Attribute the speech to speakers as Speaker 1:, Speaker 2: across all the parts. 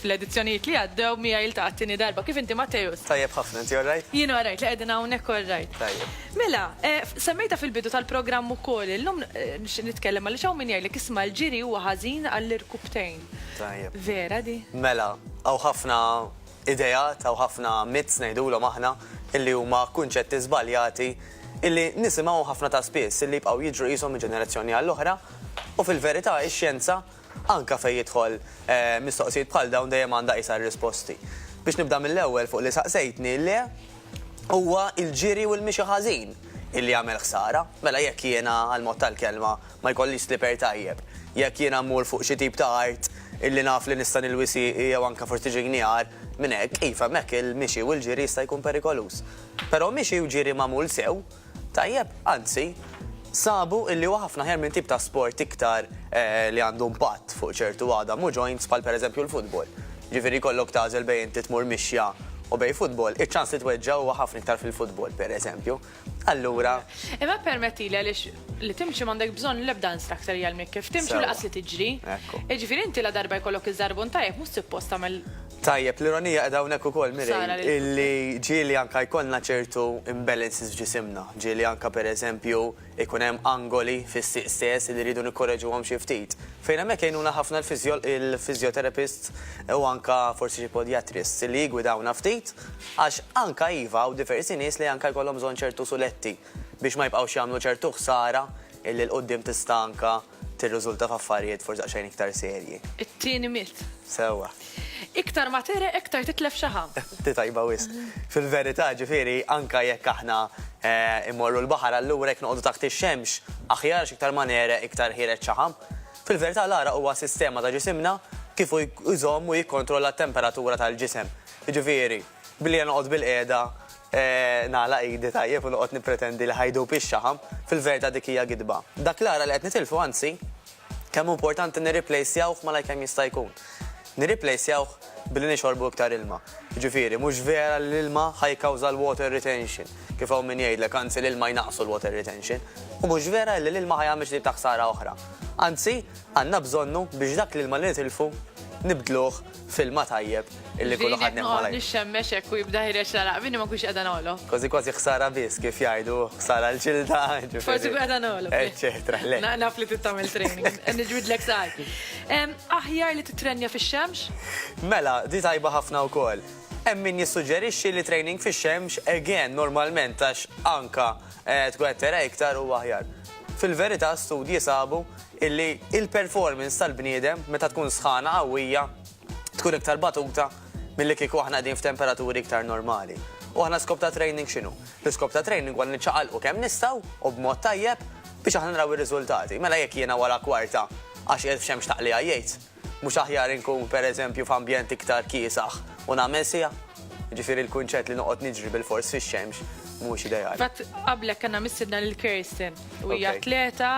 Speaker 1: fl-edizzjonijiet li għaddew mija jiltaqgħet tieni darba. Kif inti Matteus? Tajjeb ħafna, inti orrajt?
Speaker 2: Jien orrajt li qegħdin hawnhekk
Speaker 1: orrajt. Tajjeb. Mela,
Speaker 2: eh,
Speaker 1: semmejta fil-bidu tal-programm ukoll, illum eh, nitkellem għaliex hawn min jgħidlek isma' l-ġiri huwa ħażin għall-irkubtejn. Tajjeb. Vera
Speaker 2: di?
Speaker 1: Mela, hawn
Speaker 2: ħafna ideat, hawn ħafna myths ngħidulhom aħna, illi huma kunċetti żbaljati illi nisimgħuhom ħafna ta' spiss, illi jibqgħu jiġru qishom minn ġenerazzjoni għall-oħra, u fil-verità ix-xjenza anke fejn jidħol mistoqsijiet bħal dawn dejjem għandha qisha r-risposti. Biex nibda mill-ewwel fuq li saqsejtni, le, huwa l-ġiri u l-mixi ħażin illi jagħmel ħsara. Mela jekk jiena għall-mod tal-kelma, Ma jkollix sliper tajjeb. Jekk jiena mmur fuq xi tip ta' art illi naf li nista' nilwi sieqi jew anke forsi xi gnjar minn hekk, iva hemmhekk il-mixi u l-ġiri jista' jkun perikoluż. Però mixi u ġiri magħmul sew, tajjeb, anzi, sabu illi huwa ħafna aħjar minn tip ta' sport iktar li għandu impatt fuq ċertu għadam u joints bħal pereżempju l-futbol. Ġifieri jkollok tagħżel bejn inti tmur mixja u bejn futbol, iċ-ċans li tweġġa' huwa ħafna iktar fil-futbol, pereżempju. Allura. Imma permettili
Speaker 1: għaliex li timxi m'għandek bżonn l-ebda instructor jgħallmek kif timxi u laqas li tiġri. Jiġifieri inti la darba jkollok iż-żarbun tajjeb mhux suppost tagħmel Tajjeb, l-ironija
Speaker 2: qiegħda hawnhekk ukoll Mirej, illi ġieli anke jkollna ċertu imbalances f'ġisimna. Ġieli anke pereżempju jkun hemm angoli fis-sieq stess li rridu nikkoreġuhom xi ftit. Fejn hemmhekk jgħinuna ħafna l-physiotherapists u anke forsi xi podiatrists li jiggwidawna ftit Għax anka iva hawn diversi nies li anka jkollhom bżonn ċertu suletti biex ma jibqgħux jagħmlu ċertu ħsara illi 'l quddiem tista' anka tirriżulta f'affarijiet forsi daqsxejn iktar serji. It-tieni mit.
Speaker 1: Sewwa.
Speaker 2: Iktar ma
Speaker 1: tegħreq iktar titlef xaħa. Di tajba wisq.
Speaker 2: Fil-verità, ġifieri, anka jekk aħna mmorru l-baħar allura jekk noqogħdu taħt ix-xemx aħjar għax iktar ma negħreq iktar ħiereġ xaħam. Fil-verità l-għaraq huwa sistema ta' ġisimna kif hu jżomm u jikkontrolla t-temperatura tal-ġisem. Jiġifieri, billi jien noqgħod bilqiegħda nagħlaq idi tajjeb u noqgħod nippretendi li ħa jdub ix-xaħam, fil-verità dik hija gidba. Dak l-għaraq li qed nitilfu anzi, kemm hu importanti nirriplejsjawh malajr kemm jista' jkun. Nirriplejsjawh billi nixorbu iktar ilma. Jiġifieri, mhux vera li l-ilma ħa jikkawża l-water retention, kif hawn min jgħidlek, anzi l-ilma jnaqqsu l-water retention. U mhux vera illi l-ilma ħa jagħmel xi tip ta' ħsara oħra. Anzi, għandna bżonnu biex dak l-ilma li nitilfu nibdluh filma tajjeb illi kullu ħad neħu għalaj. Nix xemmex ekku jibda
Speaker 1: ħireċ la laqbini ma kux għada nolo. Kważi kważi ħsara bis
Speaker 2: kif jajdu, ħsara l-ġilda. Forsi għada
Speaker 1: nolo. Eċċetra, le. Naf
Speaker 2: li tittamil
Speaker 1: training, nġbid l-ek saħi. Aħjar li titrenja fi xemx? Mela, di
Speaker 2: tajba ħafna u kol. Emmin jissuġerixi li training fi xemx, again, normalment, għax anka eh, tkun għettera iktar u aħjar. Fil-verita, studji sabu illi il-performance tal-bniedem meta tkun sħana qawwija tkun iktar batuta milli kieku aħna qegħdin f'temperaturi iktar normali. U aħna l-iskop ta' training x'inhu? L-iskop ta' training huwa li niċċaqalqu kemm nistgħu u b'mod tajjeb biex aħna naraw ir-riżultati. Mela jekk jiena wara kwarta għax qiegħed f'xemx taqligħa jgħid, Mhux aħjar inkun, per eżempju, f'ambjent iktar kiesaħ u nagħmel siegħa? Jiġifieri l-kunċett li noqgħod niġri bilfors fix-xemx mhuwiex ideali. Fil-fatt, qablek kellna
Speaker 1: mistiedna lil Kirsten u hija atleta,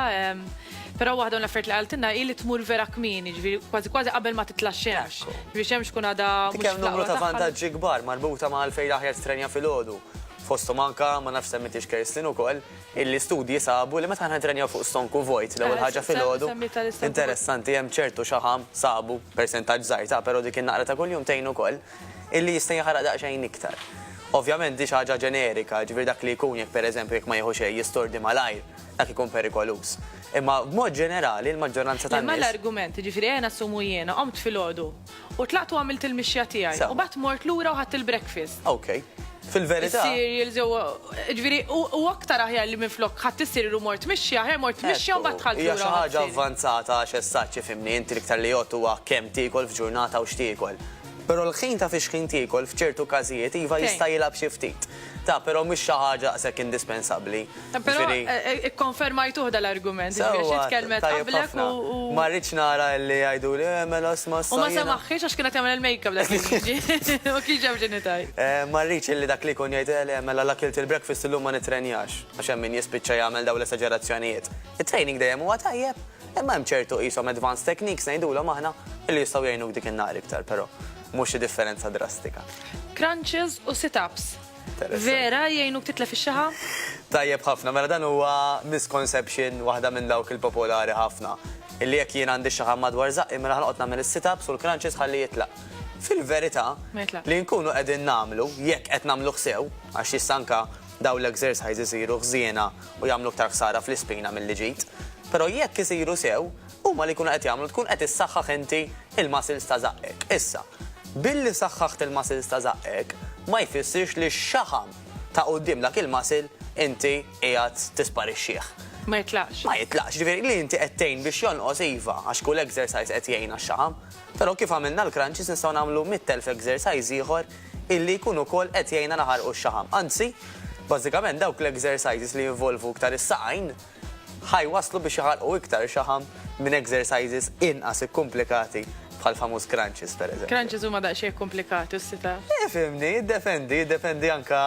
Speaker 1: però waħda mill-affarijiet li qaltilna hi li tmur vera kmieni, jiġifieri kważi kważi qabel ma titla' x-xemx. Jiġifieri x-xemx tkun għadha mhux fl-aqwa tagħha. Dik hemm numru ta' vantaġġi
Speaker 2: kbar marbuta ma' għalfejn l-aħjar titrenja filgħodu. Fosthom anke, ma nafx semmitiehx Kirsten ukoll, L-istudji sabu li meta aħna nittrenjaw fuq stonku vojt l-ewwel ħaġa filgħodu, interessanti hemm ċertu xaħam, sabu, persentaġġ żgħir ta', però dik in-naqra ta' kuljum tgħin ukoll, illi jista' jaħraq daqsxejn iktar. Ovvjament di xi ħaġa ġenerika, jiġifieri dak li jkun jekk pereżempju jekk ma jieħu xejn jistordi malajr, dak ikun perikoluż. Imma b'mod ġenerali l-maġġoranza tan-nies. Imma l-argument, jiġifieri
Speaker 1: ejja nassumu jiena qomt filgħodu, U tlaqt u għamilt il-mixja tiegħi. U bat mort lura u ħadd il-breakfast. Ok.
Speaker 2: Fil-verità. Cereal, ġew.
Speaker 1: Ġifieri, u aktar aħjar li minflok ħadd issir u mort mixja, aħjar mort mixja u bat tħall. Hija xi ħaġa avvanzata
Speaker 2: għax essaċċi fimni, inti iktar li jgħod huwa kemm tiekol f'ġurnata u x'tiekol. Però l-ħin ta' fiex ħin tiekol f'ċertu każijiet iva jista' jilgħab xi ftit. Ta' però mhix xi ħaġa daqshekk indispensabbli. Però
Speaker 1: ikkonfermajtuh dal-argument, jiġifieri għax int tkellmet qablek u. Ma rridx nara
Speaker 2: li jgħiduli, eh mela sma' sa. U ma samaħħiex għax
Speaker 1: kien qed jagħmel il-makeup dak il-Gigi. U kien ġab x'inhi tgħid. Ma rridx illi dak
Speaker 2: li jkun jgħid, eh mela l-akilt il-breakfast illum ma nittrenjax, għax hemm min jispiċċa jagħmel dawn l-esaġerazzjonijiet. It-training dejjem huwa tajjeb, imma hemm ċertu qishom advanced techniques ngħidulhom aħna, illi jistgħu jgħinuk dik in-nhar iktar, però mhux xi differenza drastika. Crunches
Speaker 1: u sit-ups. Vera, jgħinuk titlef ix-xaħa? Tajjeb ħafna,
Speaker 2: mela dan huwa misconception waħda minn dawk il-popolari ħafna. Illi jekk jien għandi xaħam madwar zaqqi mela ħanqot nagħmel is-sit-ups u l-crunches ħalli jitlaq. Fil-verità, li
Speaker 1: nkunu qegħdin nagħmlu,
Speaker 2: jekk qed nagħmlu ħsew, għax jissanka daw l-exercise isiru ħżiena u jagħmlu ktar ħsara fl-ispina milli ġid. Però jekk isiru sew, huma li jkunu qed jagħmlu tkun qed issaħħaħ inti l-muscles ta' żaqqek. Issa, billi saħħaħt il-muscles ta' żaqqek ma jfissirx li x-xaħam ta' quddiem dak il-muscle inti qiegħed tisparixxih. Ma jitlaqx.
Speaker 1: Ma jitlaqx, jiġifieri li
Speaker 2: inti qed tgħin biex jonqos iva, għax kull exercise qed jgħin għax-xaħam. Però kif għamilna l-crunches nistgħu nagħmlu mitt elf exercise ieħor illi jkun ukoll qed jgħinna naħarqu x-xaħam. Anzi, bażikament dawk l-exercises li jinvolvu iktar is-saqajn, ħa jwasslu biex iħalqu iktar xaħam minn exercises inqas ikkumplikati bħal famuż crunches pereżempju. Crunches huma daqsxejn
Speaker 1: ikkumplikati u sit ups. Eh, fimni, jiddependi,
Speaker 2: jiddependi anka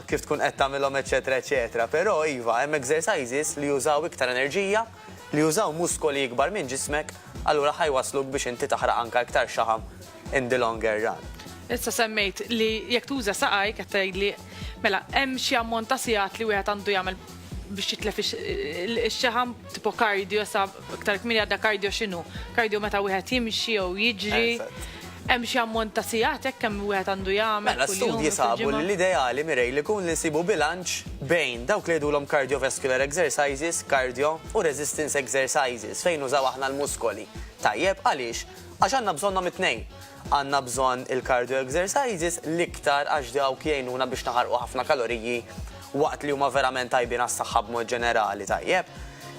Speaker 2: kif tkun qed tagħmilhom eċetera eċetera, però iva hemm exercises li jużaw iktar enerġija, li jużaw muskoli ikbar minn ġismek, allura ħa jwassluk biex inti taħraq anka iktar xaħam in the longer run. Issa semmejt
Speaker 1: li jekk tuża saqaj, qed tgħidli mela hemm xi ammont ta' sigħat li wieħed għandu jagħmel biex jitlef ix-xaħam tipo kardio sa iktar kmini għadda kardio x'inhu? Kardio meta wieħed jimxi jew jiġri. Hemm xi ammont ta' sigħat hekk hemm wieħed għandu jagħmel. Mela studji sabu
Speaker 2: li l-ideali mirej li kun li nsibu bilanċ bejn dawk li jgħidulhom cardiovascular exercises, cardio u resistance exercises fejn użaw aħna l-muskoli. Tajjeb għaliex Għax għandna bżonnhom it-tnejn. Għandna bżonn il-cardio exercises l-iktar għax dawk jgħinuna biex naħarqu ħafna kaloriji waqt li huma verament tajbin għas-saħħa b'mod ġenerali, tajjeb?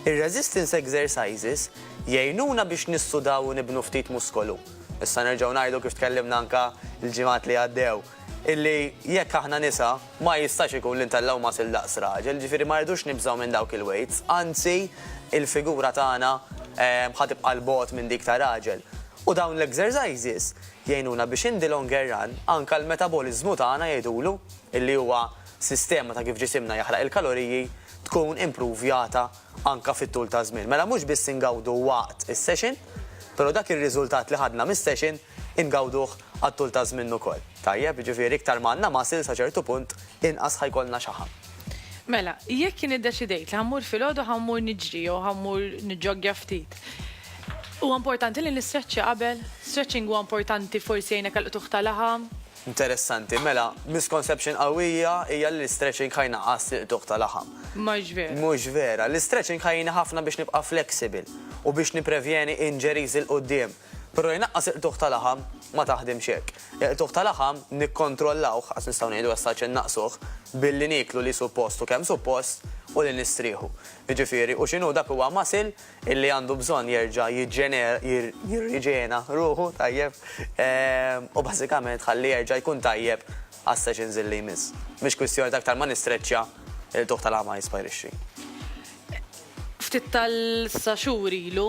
Speaker 2: Ir-resistance exercises jgħinuna biex nissudaw u nibnu ftit muskolu. Nistgħu nerġgħu ngħidu kif tkellimna anke l-ġimgħat li għaddew. illi jekk aħna nisa ma jistax ikun li ntellgħu muscle daqs raġel, ġifieri ma rridux nibżgħu minn dawk il-weights, anzi il-figura tagħna ħa tibqa' 'l bogħod minn dik ta' raġel. U dawn l-exercises jgħinuna biex in the longer run anke l-metaboliżmu tagħna jgħidulu, illi huwa sistema ta' kif ġisimna jaħraq il-kaloriji, tkun impruvjata anke fit-tul taż-żmien. Mela mhux biss ingawdu waqt is-session, pero dak ir-riżultat li ħadna mis-session Ingawduh għat-tul ta' żmien ukoll. Tajjeb, jiġifieri iktar ma għandna muscle sa ċertu punt inqas ħa jkollna xaħam. Mela,
Speaker 1: jekk jien iddeċidejt li ħa mmur filgħodu ħa mmur niġri jew ħa mmur niġġoggja ftit, huwa importanti li nistreċċja qabel? Stretching huwa importanti forsi jgħinek għall-qtugħ ta' laħam? Interessanti.
Speaker 2: Mela, misconception qawwija hija li l-istretching ħa jnaqqas l-qtugħ ta' laħam. Mhux vera. Mhux
Speaker 1: vera. L-istretching
Speaker 2: ħa jgħinni ħafna biex nibqa' flexible u biex nipprevjeni injuries 'il quddiem. Però jnaqqas il-qtugħ ta' laħam ma taħdimx hekk. Il-qtugħ ta' laħam nikkontrollawh, għax nistgħu ngħidu essaċ innaqqsuh, billi nieklu li suppost u kemm suppost u li nistrieħu. Jiġifieri, u x'inhu dak huwa muscle illi għandu bżonn jerġa' jiġġenera, jirriġena ruħu, tajjeb, u bażikament tħalli jerġa' jkun tajjeb għas-sessions illi jmiss. Mhix kwistjoni ta' aktar ma nistreċċja, il-qtugħ ta' laħam ma jisparixxi.
Speaker 1: Ftit tal-sa xhur ilu,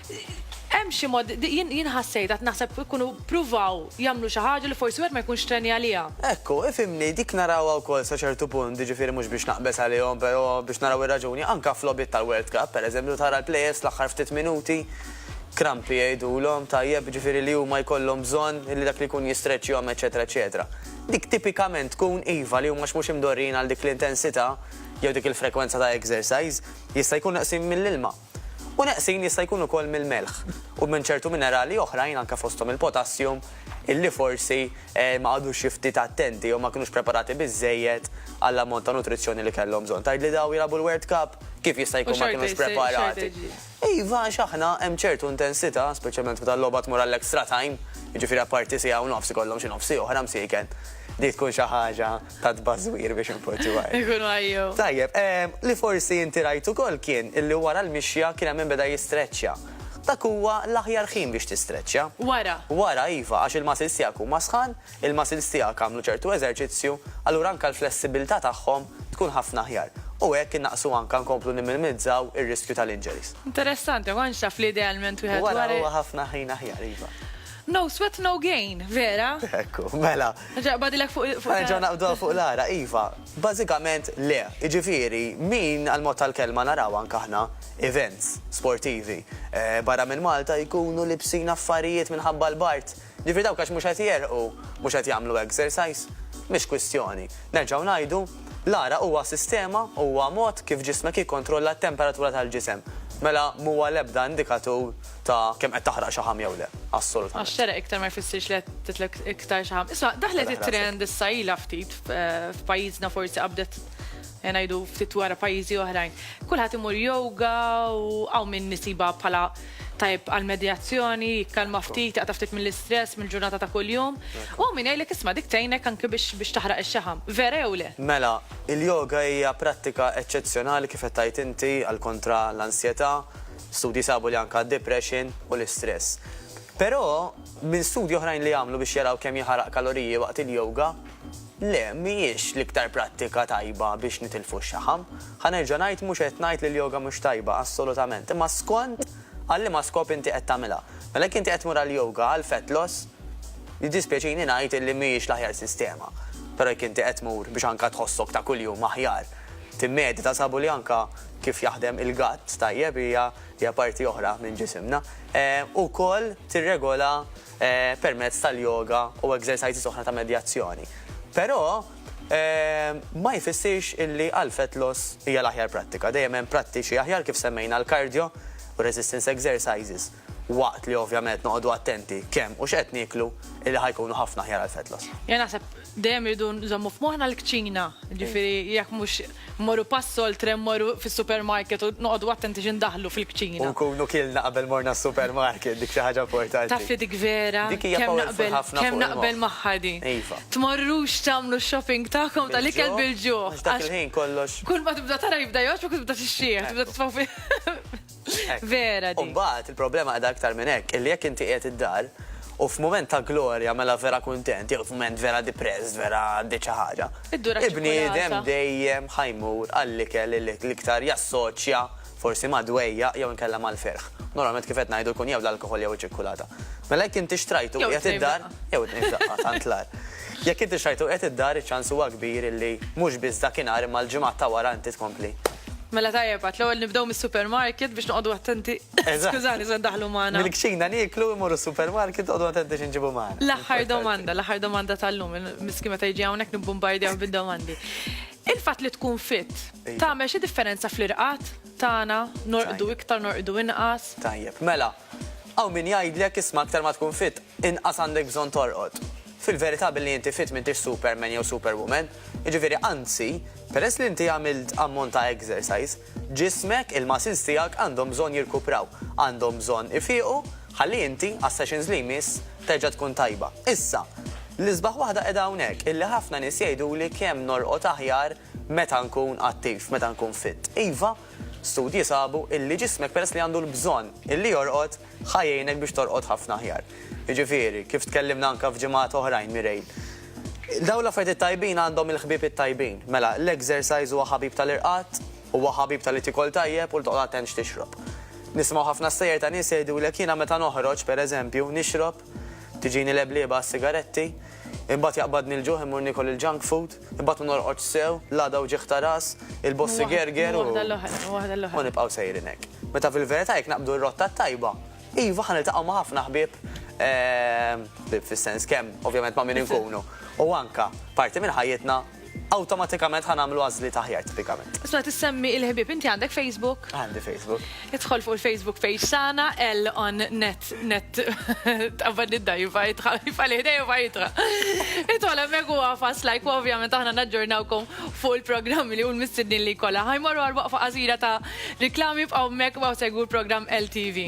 Speaker 1: Hemm xi mod, jien jien ħassejt qed naħseb ikunu ppruvaw jagħmlu xi ħaġa li forsi wieħed ma jkunx strani għaliha. Ekku, ifhimni,
Speaker 2: dik narawha wkoll sa ċertu punt, jiġifieri mhux biex naqbeż għalihom, però biex naraw ir-raġuni, anke f'logħbiet tal-World Cup, pereżempju, tara l-players l-aħħar ftit minuti, krampi jgħidulhom, tajjeb, jiġifieri li huma jkollhom bżonn li dak li jkun jistreċċjahom eċċetera eċċetera. Dik tipikament tkun, iva, li huma x'mhux imdorrijin għal dik l-intensità jew dik il-frekwenza ta' exercise, jista' jkun neqsin mill-ilma. u neqsin jista' jkun ukoll mill-melħ u minn ċertu minerali oħrajn anke fosthom il-potassium illi forsi ma qagħdux xi ftit attenti jew ma kinux preparati biżżejjed għall-ammont ta' nutrizzjoni li kellhom bżonn. Tgħidli dawn jilagħbu l-World Cup? Kif jista' jkun ma kinux preparati? Iva, għax aħna hemm ċertu intensità, speċjalment meta l-logħba tmur għall-extra time, jiġifieri apparti siegħa u nofs ikollhom xi nofs siegħa oħra msieken. Dik tkun xi ħaġa. ta' tbażwir biex inpoġġu għajr. Ikunu għajjew. Tajjeb,
Speaker 1: ehm, li
Speaker 2: forsi inti rajt ukoll kien illi wara l-mixja kien hemm min beda jistreċċja. Dak huwa l-aħjar ħin biex tistreċċja. Wara? Wara,
Speaker 1: iva, għax
Speaker 2: il-muscles tiegħek huma sħan, il-muscles tiegħek għamlu ċertu eżerċizzju, allura anke l-flessibilità tagħhom tkun ħafna aħjar. U hekk innaqqsu anke nkomplu nimminimizzaw ir-riskju tal-injuries. Interessanti,
Speaker 1: ma kontx
Speaker 2: naf li
Speaker 1: idealment
Speaker 2: wieħed.
Speaker 1: Wara
Speaker 2: huwa ħafna ħin aħjar,
Speaker 1: iva. No sweat, no gain, vera? Ekku, mela.
Speaker 2: Nerġa' naqbadilek fuq l-ara.
Speaker 1: Ħa nerġgħu naqbduha fuq l-ara,
Speaker 2: iva. Bażikament le. Jiġifieri, min għall-mod tal-kelma naraw anke aħna events sportivi barra minn Malta jkunu libsin affarijiet minħabba l-bard. Jiġifieri dawk għax mhux qed jegħrqu, mhux qed jagħmlu exercise, mhix kwistjoni. Nerġgħu ngħidu, l-ara huwa sistema, huwa mod kif ġismek jikkontrolla t-temperatura tal-ġisem. Mela m'huwa l-ebda indikatur. ta' kemm qed taħraq xaħam jew le. Assolutament. Għax xeraq iktar ma jfissirx
Speaker 1: li qed titlek iktar xaħam. Isma' daħlet it-trend issa ilha ftit f'pajjiżna forsi qabdet eh, ngħidu ftit wara pajjiżi oħrajn. Kulħadd imur yoga u hawn min nisiba bħala tajb għal-medjazzjoni, jikkalma ftit, jaqta ftit mill-istress, mill-ġurnata ta' kuljum. U min jgħidlek isma' dik tgħinek anke biex taħraq ix-xaħam. Vera jew le? Mela, il-yoga
Speaker 2: hija prattika eċċezzjonali kif qed tgħid inti għal kontra l-ansjetà, Studji sabu li anke d-depression u l-istress. Però, minn studji oħrajn li għamlu biex jaraw kemm jaħaraq kaloriji waqt il-yoga, le, mhijiex l-iktar prattika tajba biex nitilfu x-xaħam. Ħa nerġa' ngħid, mhux qed ngħid li l-yoga mhux tajba, assolutament, imma skont għal liema skop inti qed tagħmilha. Mela jekk inti qed tmur għall-yoga għal fat loss, jiddispjaċini ngħid illi mhijiex l-aħjar sistema. Però jekk inti qed tmur biex anke tħossok ta' kuljum aħjar, timmedita sabu li anke kif jaħdem il-gatt tajjeb hija hija parti oħra minn ġisimna. Ukoll tirregola permezz tal-yoga u exercises oħra ta' medjazzjoni. Però ma jfissirx illi għal fat loss hija l-aħjar prattika. Dejjem hemm prattiċi aħjar kif semmejna l-cardio u resistance exercises. waqt li ovvjament noqogħdu attenti kemm u x'qed nieklu illi ħa jkunu ħafna aħjar għall-fat loss. Jien naħseb
Speaker 1: dejjem irridu nżommu f'moħħna l-kċina, jiġifieri jekk mhux mmorru pass oltre mmorru fis-supermarket u noqogħdu attenti xi ndaħħlu fil-kċina. U nkunu kielna qabel
Speaker 2: morna s-supermarket, dik xi ħaġa importanti. Taf li dik vera, kemm naqbel magħha
Speaker 1: din. Tmorrux
Speaker 2: tagħmlu
Speaker 1: x-shopping tagħkom tal-ikel bil-ġuħ. Għax dak il-ħin kollox.
Speaker 2: Kull ma tibda tara jibda
Speaker 1: jgħoġġbok u tibda tixxieħ, tibda titfa' Vera di. Umbagħad il-problema qiegħda aktar
Speaker 2: minn hekk, illi jekk inti qiegħed id-dar u f'mument ta' glorja mela vera kuntent, jew f'mument vera depressed, vera għaddiet xi ħaġa. Il-bniedem dejjem ħajmur għall-ikel li l-iktar jassoċja forsi ma' dwejjaq jew inkella mal-ferħ. Normalment kif qed ngħidu jkun jew l-alkoħol jew iċ-ċikkulata. Mela jekk inti xtrajtu qiegħed id-dar, jew it-tnejn f'daqqa tant l-agħar. Jekk inti xtrajtu qiegħed id-dar iċ-ċans huwa kbir illi mhux biss dakinhar imma l-ġimgħat ta' wara inti tkompli. Mela tajjeb,
Speaker 1: għat l-ewwel nibdew mis-supermarket biex noqogħdu attenti. Skużani, se ndaħlu magħna. Mil-kċina nieklu imorru
Speaker 2: supermarket għodu attenti x'inġibu magħna. L-aħħar domanda, l-aħħar
Speaker 1: domanda tal-lum, miski meta jiġi hawnhekk nibbombardjaw bid-domandi. Il-fatt li tkun fit, tagħmel xi differenza fl-irqat tagħna, norqdu iktar, norqdu inqas. Tajjeb, mela,
Speaker 2: Hawn min jgħidlek isma' aktar ma tkun fit, inqas għandek bżonn torqod. Fil-verità billi inti fit m'intix superman jew superwoman, jiġifieri anzi, peress li inti għamilt ammont ta' exercise, ġismek, il-muscles tiegħek għandhom bżonn jirkupraw, għandhom bżonn ifiequ ħalli inti, għas-sessions li jmiss, terġa' tkun tajba. Issa, l-isbaħ waħda qiegħda hawnhekk, illi ħafna nies jgħiduli kemm norqod aħjar Meta nkun attiv, meta nkun fit. Iva, studji sabu illi ġismek peress li għandu l-bżonn illi jorqod, ħa jgħinek biex torqod ħafna aħjar. Jiġifieri, kif tkellimna anke f'ġimgħat oħrajn, Mireille, dawn l-affarijiet it-tajbin għandhom il-ħbieb it-tajbin. Mela, l-exercise huwa ħabib tal-irqad, huwa ħabib talli tikol tajjeb u li toqgħod attent x'tixrob. Nisimgħu ħafna stejjer ta' nies jgħidulek jiena meta noħroġ, pereżempju, nixrob Tiġini leblieba għas-sigaretti, imbagħad jaqbadni l-ġuħ immur niekol il-junk food, imbagħad ma norqodx sew, l-għada wġigħ ta' ras, il-bossi gerger u. U nibqgħu sejrin hekk. Meta fil-verità jekk naqbdu r-rotta t-tajba, iva ħa niltaqgħu ma' ħafna ħbieb, ħbieb fis-sens kemm ovvjament ma' min inkunu, u anke parti minn ħajjitna. awtomatikament ħa nagħmlu għażliet aħjar tipikament. Isma' tissemmi il-ħbieb,
Speaker 1: inti għandek Facebook? Għandi Facebook.
Speaker 2: Idħol fuq il-Facebook
Speaker 1: page tagħna L on net net tqabbad id-dajfa jitħalfa li ħdejja fajtra. Idħol hemmhekk u għafas like u ovvjament aħna naġġornawkom fuq il-programmi li hu l-mistednin li kollha. Ħajmorru għal waqfa qasira ta' riklami b'qaw mek u segwu l-programm LTV.